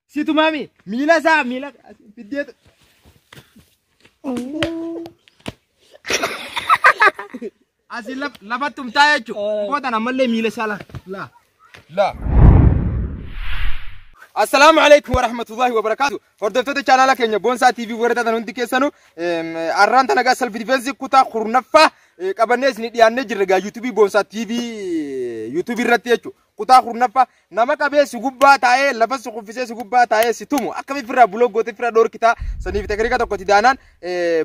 Situ maami miila isaa miila fiddeetu. Asi lafatti umtaa jechuudha. Boodan ammallee miila isaa laa. Laa. Laa. Assalaamu alaikum warahmatullahi wabarakaatu. Hordoftoota chaanaala keenya Boonsaa TV warra taatan hundi keessanuu arraan tana gaa self defense kutaa kurnaffaa qabannee isin dhiyaannee jirra gaa YouTube Boonsaa TV YouTube irratti jechuudha. Kutaa kurnaffaa nama qabee si gubbaa taa'ee lafa si kuffisee si gubbaa taa'ee si tumu akkamitti firraa buloo gootee firraa dhoorkitaa saniif teknika tokkotti daanaan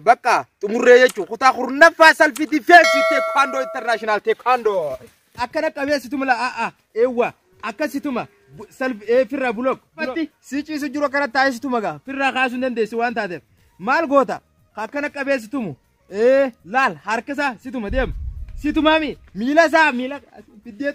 bakka xumurree jechuudha. Kutaa kurnaffaa salfi difeensii teekwaandoo intarnaashinaal teekwaandoo. Akkana qabee si tumu la'aa eewwa akka si tuma salfi firraa buloo. Si ciisu jiru akkana taa'ee si tuma gaa firraa kaasuu hin dandeessu waan taateef maal goota akkana qabee si tumu Ee laal harka isaa situma deema. Situma mi miila isaa miila fiddee.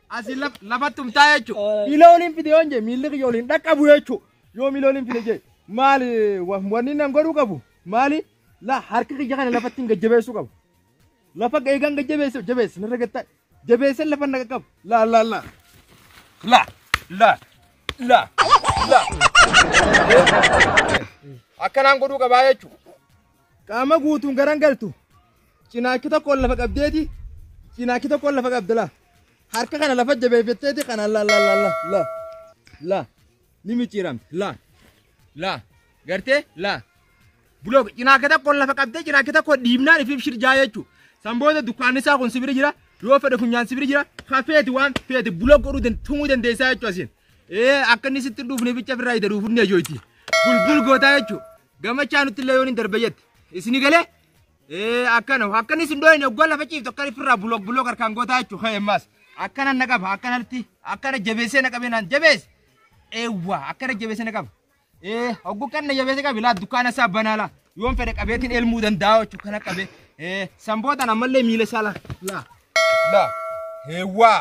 Asi laf lafatti umtaa jechuudha. Miila waliin fidee yoon jee miilli kiyya waliin dhaqqabu jechuudha. Yoo miila waliin fidee jee maali wa- wanni nan godhuu qabu maali la harka kiyya kana lafatti hin gajjabeessuu qabu. Lafa eegaan gad jabeesse jabeesse narra gattaa jabeesse lafa na qaqqabu. Laa laa laa. Laa laa laa laa. Akkanaan godhuu qabaa jechuudha. Qaama guutuun garan galtu. Cinaachi tokkoon lafa qabdeeti. Cinaachi tokkoon lafa qabda laa. Harka kana lafa jabeeffatteeti kanaan laa laa laa laa laa laa. ni micciiramti laa laa gartee laa bulook cinaa akka tokko lafa qabdee cinaa akka tokko dhiibnaan ifiif shirjaa jechuu san booda dukkaanni isaa kun sibiri jira yoo fedhe funyaan sibiri jira ka feeti waan feeti bulook godhuu dan- tumuu dandeessaa jechuu asiin ee akka inni sitti hin dhuufne bicha firraa ida dhuufne jooyti bulbul gootaa jechuu gamachaa nutti illee yoon hin darbe jette isini galee Ee akkana akkana isin dooyin oggaa lafa ciiftu akkana firraa bulook bulook harkaan gootaa jechuudha ka'e ammaas akkana na qaba akkanatti akkana jabeessee na qabee naan jabeesse eewwa akkana jabeessee na qaba ee oggu kan na jabeessee qabe laa dukkaana isaa banaa laa yoon fedhe qabeetiin elmuu danda'a jechuudha kana qabe ee sambootaan ammallee miila isaa laa laa laa eewwa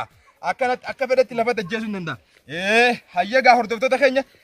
akkanatti akka fedhetti lafa tajjeesuu hin danda'a ee hayyagaa hordoftoota keenya